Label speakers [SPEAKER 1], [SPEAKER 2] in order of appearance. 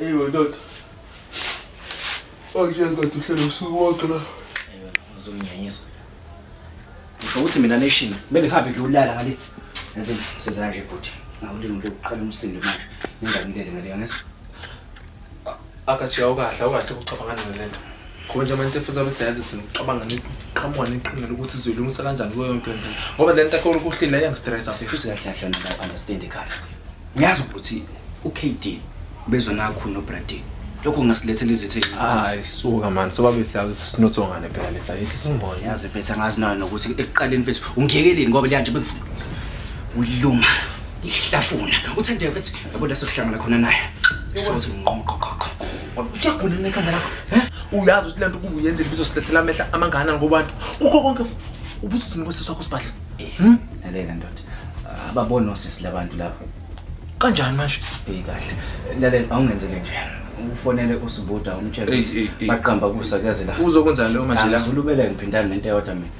[SPEAKER 1] Eyo ndoda. Oje ndoda uhlele usuku wonke la. Eyo
[SPEAKER 2] uzonginyanyisa. Usho ukuthi mina nation kumele ngihambe ngiyolala ngale. Yazi siza nje bhuti. Ngawulimi lokuqala umsindo manje. Ngingangilele ngale yangezwa. akajika
[SPEAKER 1] ukahle awukahle ukucabanga ngani lento ngoba nje abantu efuthi abesenze thina ucabanga niqhamuka neqhinga lokuthi izoyilungisa kanjani kuyo yonke lento ngoba le nto akhona ukuhlile iyangistressa futhi kahle kahle mina
[SPEAKER 2] understand kahle ngiyazi ukuthi uKD bezona kakhulu noBradley lokho kungasilethela izithe hayi suka
[SPEAKER 1] mani sobabe siyazi sinotho ngane phela lesa yihle singoya yazi mfethu angazi nayo
[SPEAKER 2] nokuthi ekuqaleni mfethu ungiyekeleni ngoba liyanje bengifuna uluma ihlafuna uthande mfethu Yabo la sokuhlangana khona naye. Sisho ukuthi nginqoma uqoqoqo. Uyakhona nekhanda lakho. He? Uyazi ukuthi lento
[SPEAKER 1] kubu yenzile bizosilethela amehla amangana ngobantu. Kukho konke ubusisi ngosisi wakho sibadla. Hmm? Lalela
[SPEAKER 2] ndoda. Ababona osisi labantu lapha. Kanjani
[SPEAKER 1] manje? Eh kahle.
[SPEAKER 2] Lalela awungenzele nje. ufonele usibuda umtshele baqamba kusa kuyazela uzokwenza leyo manje la
[SPEAKER 1] uzulubele ngiphindana
[SPEAKER 2] nento eyodwa mina